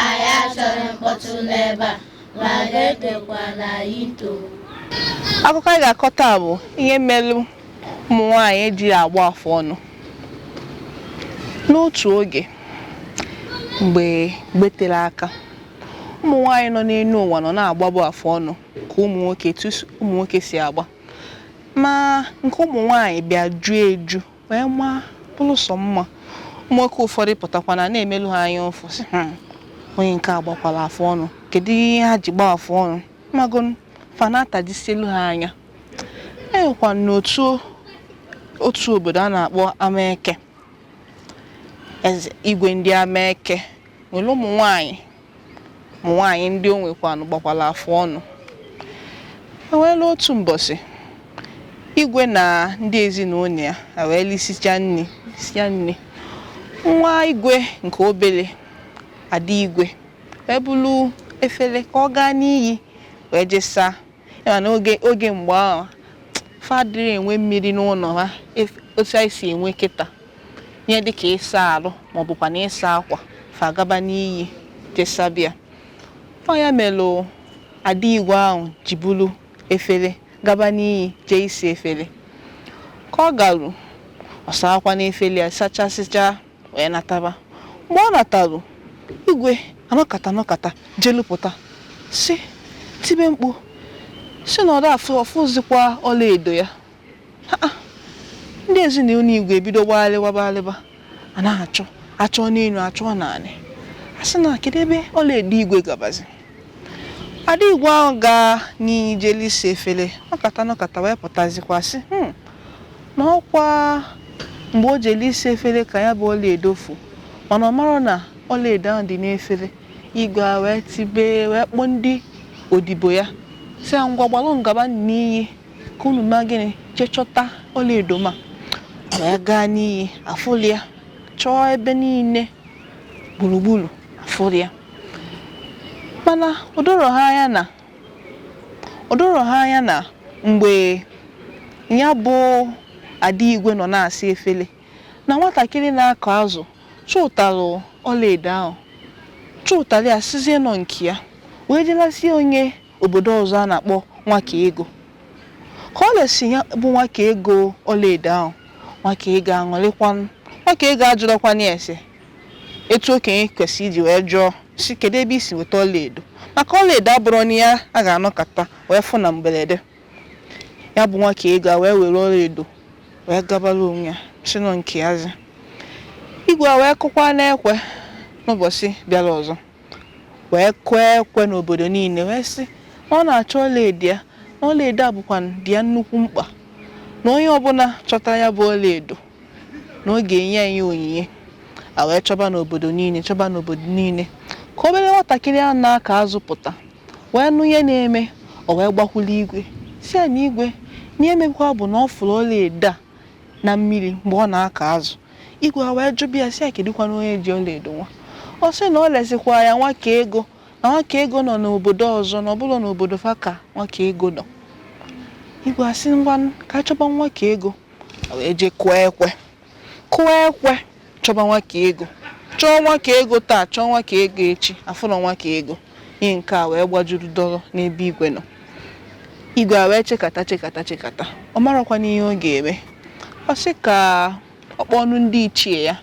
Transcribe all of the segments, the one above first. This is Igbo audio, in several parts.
Anyị achọrọ mkpọtụ n'ebe a, ma ga-egekwanụ anyị ntị oo. Akụkọ anyị ga-akọ taa bụ ihe melụ ụmụ nwaanyị adịrị agba afụ ọnụ. N'otu oge mgbe mgbe tere aka, ụmụ nwaanyị nọ n'elu ụwa nọ na-agbabụ afụ ọnụ ka ụmụ nwoke etu s- ụmụ nwoke si agba. Ma nke ụmụ nwaanyị bịa ju eju wee maa bụrụ sọ mma ụmụnwoke ụfọdụ pụtakwanụ na-emelu ha anya ụfụ sị "Hmm, onye nke a gbakwara afụ ọnụ kedu ihe ha ji gbaa afụ ọnụ magonu fa na-atajisielu ha anya e nwekwanụ otu otu obodo a na-akpọ Amaeke eze igwe ndị Amaeke nwere ụmụ nwanyị ụmụ nwaanyị ndị o nwekwanụ gbakwara afụ ọnụ e nweela otu mbọsị igwe na ndị ezinụlọ ya wee lisicha lisia nni nwa igwe nke obere ada igwe wee buru efere ka ọ gaa n'iyi wee jee saa ị ma na oge oge mgbe ahụ fa adịrị enwe mmiri n'ụnọ ha ef- otu anyị si enwe kịta ihe dịka ịsa arụ ma ọ bụkwanụ ịsa akwa fa agaba n'iyi jee saba ya ọ ya melụ ada igwe ahụ ji buru efere gaba n'iyi jee ịsa efere ka ọ garu ọ saakwanụ efere ya sachasịcha wee nataba mgbe ọ nataru igwe anọkata anọkata jelu pụta si tibe mkpu sị na ọ da afụ afụzikwa ọlaedo ya Ha, ah, ndị ezinụlọ igwe ebido gbaghalịba gbaghalịba a na-achọ achọ n'elu achọ n'anị a sị na kedu ebe ọlaedo igwe gabazi ada igwe ahụ gaa n'iyi jelụ ịsa efere nọkata nọkata wee pụtazikwa sị "Hmm, na ọ kwa mgbe o jere ịsa efere ka ya bụ ọlaedo fu mana ọ marọ na ọlaedo ahụ dị n'efere igwe a wee tibe wee kpọọ ndị odibo ya sị ha ngwa gbalụnụ gaba n'iyi ka unu mee gịnị jee chọta ọlaedo m a wee gaa n'iyi afụlị ya chọọ ebe niile gburugburu afụlị ya mana o doro ha anya na O doro ha anya na mgbe ya bụ ada igwe nọ na-asa efere, na nwatakịrị na-akụ azụ chụtara ọlaedo ahụ, chụtara ya sịzie na ọ nke ya, wee jee lesie onye obodo ọzọ a na-akpọ Nwakaego. Ka o lesi ya bụ Nwakaego ọlaedo ahụ, Nwakaego aṅụrịkwanụ. Nwakaego ajụrọkwanụ ya ese, Etu okenye kwesịrị iji wee jụọ sị kedu ebe i si weta ọlaedo maka ọlaedo abụrọ na ya a ga-anọkata wee fụ na mberede ya bụ Nwakaego a wee were ọlaedo wee gabara onwe ya si nọ nke ya zi igwe a wee kụkwaa n'ekwe n'ụbọchị bịara ọzọ wee kụọ ekwe n'obodo niile wee sị na ọ na-achọ ọlaedo ya na ọlaedo a bụkwa dị ya nnukwu mkpa na onye ọbụla chọtara ya bụ ọlaedo na ọ ga-enye ya onyinye a wee chọba n'obodo niile chọba n'obodo niile ka obere nwatakịrị a na-akụ azụ pụta wee nụ ihe na-eme o wee gbakwuru igwe sị ya na igwe na ihe mekwa bụ na ọ fụrụ ọla edo a na mmiri mgbe ọ na-akụ azụ igwe a wee jụba ya sị ya kedụkwana onye ji ọla edo nwa ọ sị na ọ lesikwa ya Nwakaego na Nwakaego nọ n'obodo ọzọ na ọ bụrọ n'obodo fa ka Nwakaego nọ igwe asị ngwa ka a chọba Nwakaego wee jee kụọ ekwe kụọ ekwe chọba Nwakaego chọọ Nwakaego taa chọọ Nwakaego echi a fụrọ Nwakaego ihe nke a wee gbajuru dọrọ n'ebe igwe nọ igwe a wee chekata chekata chekata ọ marọkwana ihe ọ ga-eme ọ sị ka ọ kpọọnụ ndị ichie ya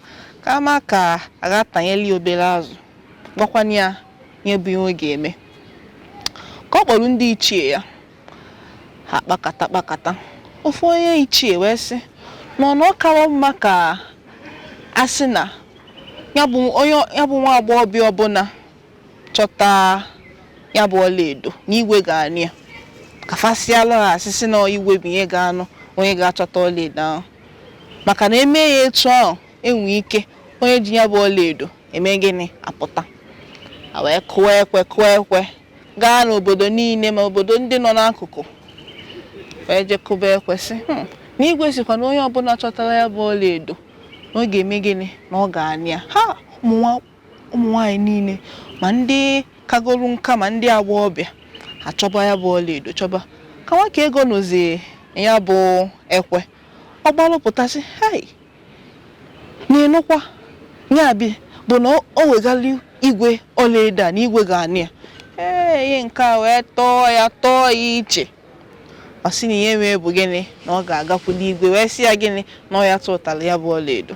ka a ma ka a ga-atanyeli ya obere azụ gwakwana ya ihe bụ ihe ọ ga-eme ka ọ kpọrọ ndị ichie ya ha kpakata kpakata ofu onye ichie wee sị na ọ na ọ kawa mma ka a sị na ya bụ onye ya bụ nwa agbọghọbịa ọbụla chọta ya bụ ọlaedo na igwe ga-anụ ya ka fa sịalụ ha asị sị na igwe bụ ihe ga-anụ onye ga-achọta ọlaedo ahụ maka na e me ya etu ahụ e nwe ike onye ji ya bụ ọlaedo eme gịnị apụta a wee kụọ ekwe kụọ ekwe gaa n'obodo niile ma obodo ndị nọ n'akụkụ wee je kụba ekwe sị hmm. na igwe sịkwa na onye ọbụla chọtara ya bụ ọlaedo na ọ ga-eme gịnị na ọ ga-anụ ya ha ụmụ nwaanyị niile ma ndị kagoro nka ma ndị agbọghọbịa achọba ya bụ ọlaedo chọba ka Nwakaego nụzi ya bụ ekwe ọ gbalụpụta sị hei na ịnụkwa ya bi bụ na o- o wegalụ igwe ọlaedo a na igwe ga-anụ ya ee ihe nke a wee tọọ ya tọọ ya iche ọ sị na ihe mee bụ gịnị na ọ ga-agakwuli igwe wee sị ya gịnị na ọ ya tụtara ya bụ ọlaedo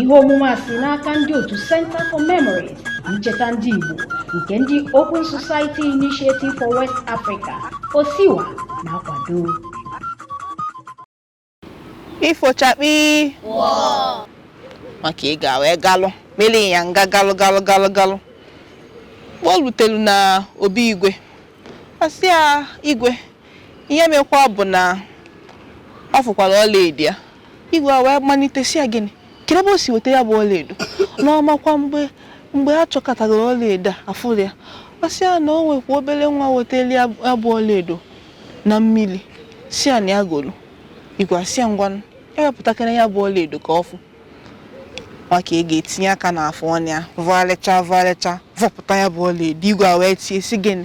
ihe omume a si n'aka ndị otu Center for Memories Ncheta Ndị Igbo nke ndị Open Society Initiative for West Africa OSIWA na-akwado ifo chakpii Nwakaego a wee galụ mere ya nga galụ galụ galụ galụ mgbe o rutelu na obi igwe ọ sị ya igwe Ihe mekwa bụ na ọ fụkwara ọlaedo ya. Igwe a wee malite sị ya gịnị kedu ebe o si weta ya bụ ọlaedo na ọ makwa mgbe mgbe a chọkọtagoro ọlaedo a afụrọ ya ọ sị ya na o nwekwa obere nwa wetara ya ya bụ ọlaedo na mmiri sị ya na ya goro igwe asị ya ngwanụ wepụtakene ya bụ ọlaedo ka ọ fụ Nwakaego etinye aka n'afụ ọnụ ya vọgharịcha vọgharịcha vọpụta ya bụ ọlaedo igwe a wee tie sị gịnị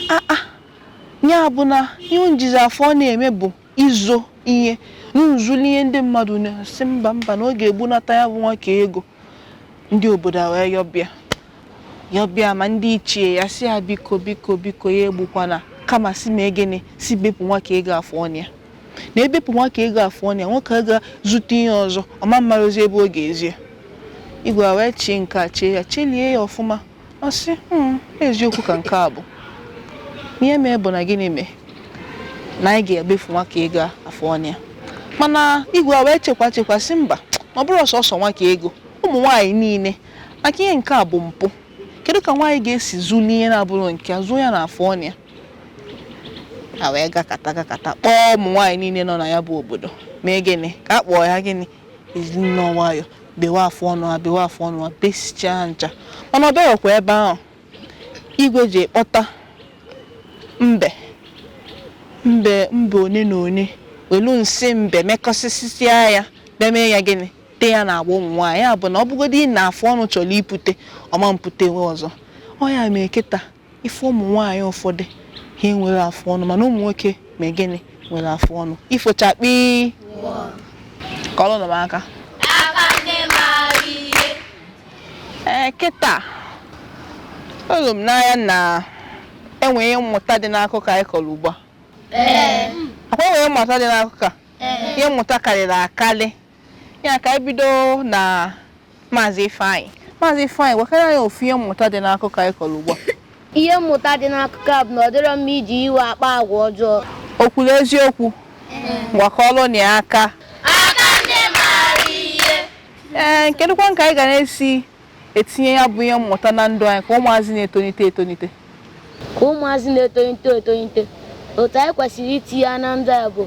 aa Ya bụ na ihe unu jizi afụ ọnụ eme bụ izo ihe unu zuli ihe ndị mmadụ na-asị mba mba na ọ ga-egbunata ya bụ Nwakaego ndị obodo a wee yọbịa yọbịa ma ndị ichie ya sị ya biko biko biko ya egbukwana kama sị mee gịnị sị bepụ Nwakaego afụ ọnụ ya na e bepụ Nwakaego afụ ọnụ ya o nwee ike ga zuta ihe ọzọ ọ ma amarozi ebe ọ ga-ezo ya igwe a wee chee nke a chee ya chelie ya ọfụma Ọ sị, "Hmm, eziokwu ka nke a bụ. Ihe mee bụ na gịnị mee? Na anyị ga-ebefu Nwakaego afụ ọnụ ya. Mana igwe a wee chekwa chekwa sị mba, ọ bụrọ sọsọ Nwakaego, ụmụ nwaanyị niile, maka ihe nke a bụ mpụ. Kedu ka nwaanyị ga-esi zuli ihe na-abụrọ nke ya, zoo ya n'afụ ọnụ ya? A wee gakata gakata kpọọ ụmụ nwaanyị niile nọ na ya bụ obodo. Mee gịnị? Ka a kpụọ ya gịnị? e ji nnọọ nwayọ bewe afụ ọnụ ha bewe afụ ọnụ ha besichaa ncha mana o birọkwa ebe ahụ igwe jee kpọta mbe mbe mbe one na one welu nsị mbe mekọsịsịa ya bịa mee ya gịnị tee ya n'agba ụmụ nwaanyị ya bụ na ọ bụgodu na afụ ọnụ chọrọ ipute ọ ma eputenwu ọzọ ọ ya mee kịta Ị fụ ụmụ nwaanyị ụfọdụ ha enwerọ afụ ọnụ mana ụmụ nwoke mee gịnị nwere afụ ọnụ ifo chakpii kụọrọ nụ m aka ee kịta olu m n'anya na e nwe ihe mmụta dị n'akụkọ anyị kọrọ ugbu a ọ kwa e nwe ihe mmụta dị n'akụkọ a ihe mmụta karịrị akarị ya ka anyị bido na maazị ifeanyị maazị ifeanyị gwakene anyị ofu ihe mmụta dị n'akụkọ anyị kọrọ ugbu a ihe mmụta dị n'akụkọ a bụ na ọ dịrọ mma iji iwe akpa agwa ọjọọ o kwuru eziokwu ngwa kụọrọ nụ ya aka ee kedụkwanụ ka anyị ga na-esi etinye ya bụ ihe mmụta na ndụ anyị ka ụmụazị na-etonite etonite ka ụmụazị na-etonite etonite otu anyị kwesịrị itinye ya na ndụ anyị bụ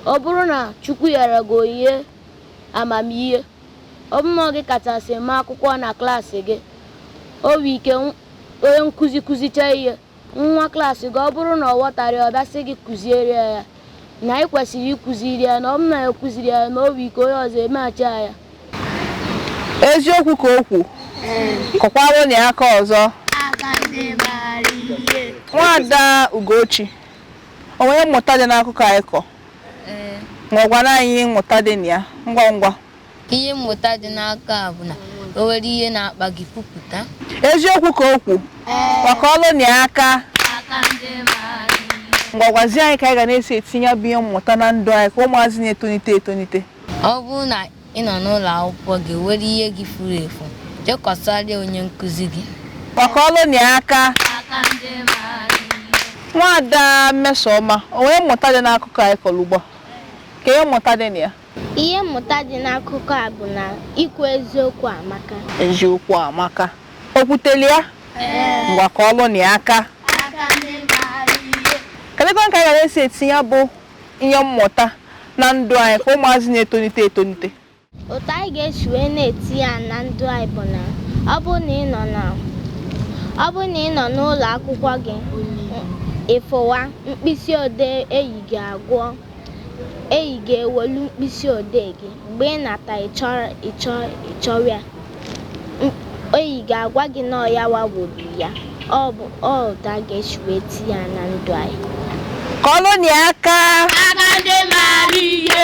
ọ bụrụ na Chukwu nyere gị onyinye amamihe ọ bụrụ na ọ gị kachasị ma akwụkwọ na klaasị gị o nwee ike onye nkụzi kụzichaa ihe nwa klaasị gị ọ bụrụ na ọ ghọtara ọ bịa sị gị kụziere ya ya na ị kwesịrị ịkụziri ya na ọ bụrụ na ya kụziri ya na o nwere ike onye ọzọ emeghachi ya ya eziokwu ka o kwu kụkwara nụ ya aka ọzọ nwaada ugochi o nwere mmụta dị n'akụkọ anyị kọ ngwa gwanụ anyị mmụta dị na ya ngwa ngwa Ihe mmụta dị n'akụkọ a bụ na o nwere ihe na-akpa gị kwupụta. Eziokwu ka o kwu. Ngwa kụọlụ nụ ya aka. Ngwa gwazie anyị ka anyị ga na-esi etinye ya bụ ihe mmụta na ndụ anyị ka ụmụazị na-etonite etonite. Ọ bụrụ na ị nọ n'ụlọ akwụkwọ gị o nwere ihe gị furu efu, jee kọsarịa onye nkụzi gị. Ngwa kụọlụ nụ ya aka. Nwaada Mmesoma, o nwere mmụta dị n'akụkọ anyị kọrọ ugbu a? Kee ihe mmụta dị na ya. Ihe mmụta dị n'akụkọ a bụ na ikwu eziokwu amaka. Eziokwu amaka. O kwuteli ya? Ngwa kụọlụ nụ ya aka. Kedụkwa ka anyị ga na-esi etinye ya bụ ihe mmụta na ndụ anyị ka ụmụazị na-etonite etonite? Otu anyị ga-esi wee na-etinye ya na ndụ anyị bụ na ọ bụrụ na ị nọ n'ụlọ akwụkwọ gị ị fụwa mkpịsị odee enyi gị agwa Enyi gị ewelu mkpịsị odee gị mgbe ị nata ị chọwa ya. Enyi gị agwa gị na ọ ya wa wolu ya. Ọ bụ otu a ga-esi wee tinye ya na ndụ anyị. Kụọlụ nụ ya aka. Aka ndị maara ihe.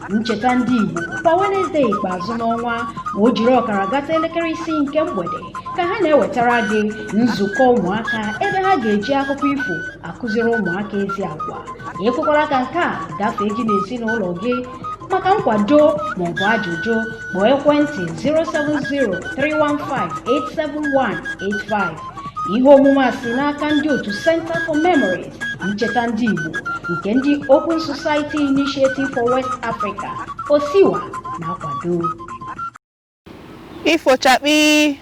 ncheta ndị Igbo kwa Wenezdee ikpeazụ n'ọnwa ma o jiri ọkara gata elekere isii nke mgbede ka ha na-ewetara gị nzukọ ụmụaka ebe ha ga-eji akụkọ ifo akụziri ụmụaka ezi agwa ekwekwara ka nke a gafee gị n'ezinụlọ gị maka nkwado maọbụ ajụjụ kpọọ ekwentị 070-315-87185 ihe omume a si n'aka ndị otu Center for Memories ncheta ndị Igbo nke ndị Open Society Initiative for West Africa OSIWA na-akwado ifo chakpii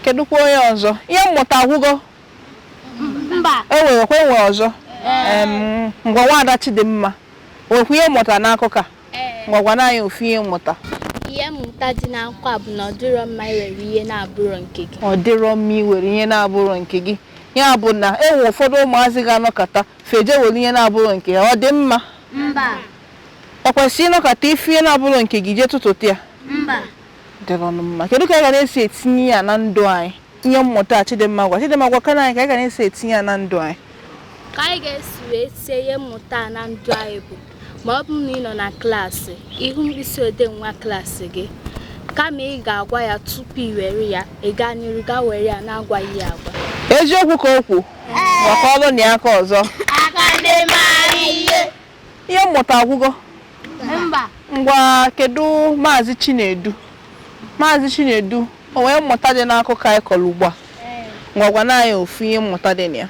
kedụkwa onye ọzọ ihe mmụta agwụgo mba e nwerekwa e nwe ọzọ Em, ngwa nwaada Chidimma nwekwa ihe mmụta n'akụkọ a Ee, ngwa gwanụ anyị ofu ihe mmụta ihe mmụta dị n'akụkọ a bụ na ọ dịrọ mma iwere ihe na-abụrụ nke gị. ọ dịrọ mma iwere ihe na-abụrọ nke gị ya bụ na e nwere ụfọdụ ụmụazị ga-anọkata fa eje were ihe na-abụrọ nke ya ọ dị mma Mba, o kwesịrị ịnọkata ịfụ ihe na-abụrọ nke gị jee tụtụta ya mba, dịrọnụ mma kedu ka anyị ga na-esi etinye ya na ndụ anyị ihe mmụta a Chidimma gwa Chidimma gwakene anyị ka anyị ga na-esi etinye ya na ndụ anyị ka anyị ga-esi wee tie ihe mmụta a na ndụ anyị bụ ma ọ bụrụ na ị nọ na klaasị ị hụ mkpịsị odee nwa klaasị gị kama ị ga-agwa ya tupu ị were ya ị gaa n'iru gaa were ya na-agwaghị ya agwa eziokwu ka o kwu kụọlụnụ ya aka ọzọ aka ndị maara ihe ihe mmụta agwụgo mba ngwa kedu maazị chinedu maazị chinedu o nwere mmụta dị n'akụkọ anyị kọrọ ugbu a ngwa gwanụ anyị ofu ihe mmụta dị na ya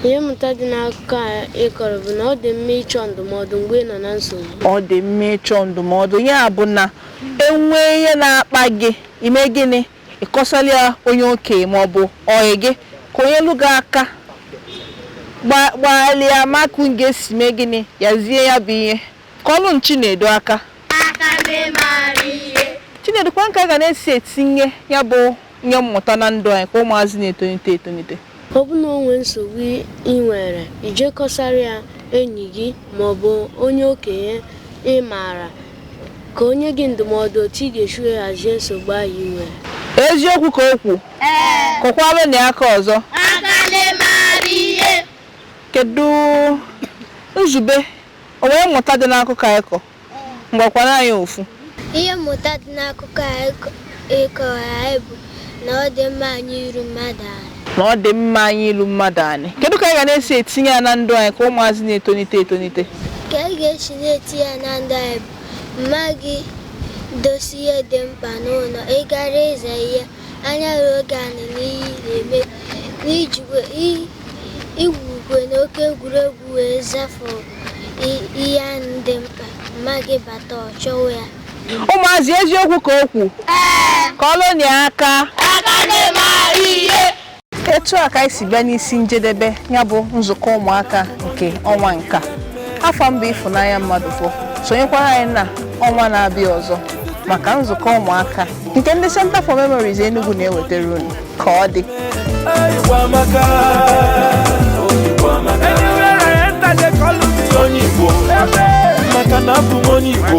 ihe mmụta dị n'akụkọ a ị kọrọ bụ na ọ dị mma ịchọ ndụmọdụ mgbe ị nọ na nsogbu ọ dị mma ịchọ ndụmọdụ ya bụ na e nwee ihe na-akpa gị i mee gịnị Ị kọsara ya onye okenye ma ọ bụ ọyị gị ka o nyelụ gị aka gba- gbalịa ma ka unu ga-esi mee gịnị hazie ya bụ ihe kụọlụnụ Chinedu aka Chinedu kwanụ ka a ga na-esi etinye ya bụ ihe mmụta na ndụ anyị ka ụmụazị na-etonite etonite Ọ bụ na o nwee nsogbu ị nwere, i jee kọsara ya enyi gị ma ọ bụ onye okenye ị maara ka o nye gị ndụmọdụ otu ị ga-esi wee hazie nsogbu ahụ i nwere. Eziokwu ka o kwu? Kụkwaranụ ya aka ọzọ. Kedu Nzube o nwere mmụta dị n'akụkọ anyị kọ? Ngwa gwanụ anyị ofu. Ihe mmụta dị n'akụkọ a ị kọwara anyị bụ na ọ dị mma anya iru mmadụ ala. Na ọ dị mma anya ilu mmadụ anị. Kedu ka anyị ga na-esi etinye ya na ndụ anyị ka ụmụazị na-etonite etonite? Ka anyị ga-esi na-etinye ya na ndụ anyị bụ mma gị dosa ihe dị mkpa n'ụlọ, ị gara ịza ihe, anya ruo gị anị n'ihe ị na-eme n'ijikwa igwukwe n'oke egwuregwu wee zafụ ihe ahụ dị mkpa mma gị bata ọ chọwa ya ụmụazị eziokwu ka o kwu kụọlụnụ ya aka aka ndị ma ihe etu a ka anyị si bịa n'isi njedebe ya bụ nzukọ ụmụaka nke ọnwa nka afa m bụ Ịfụnanya Mmadụafọ sonyekwara anyị na ọnwa na-abịa ọzọ maka nzukọ ụmụaka nke ndị Center for Memories Enugu na-ewetara unu ka ọ dị maka na abụ m onye Igbo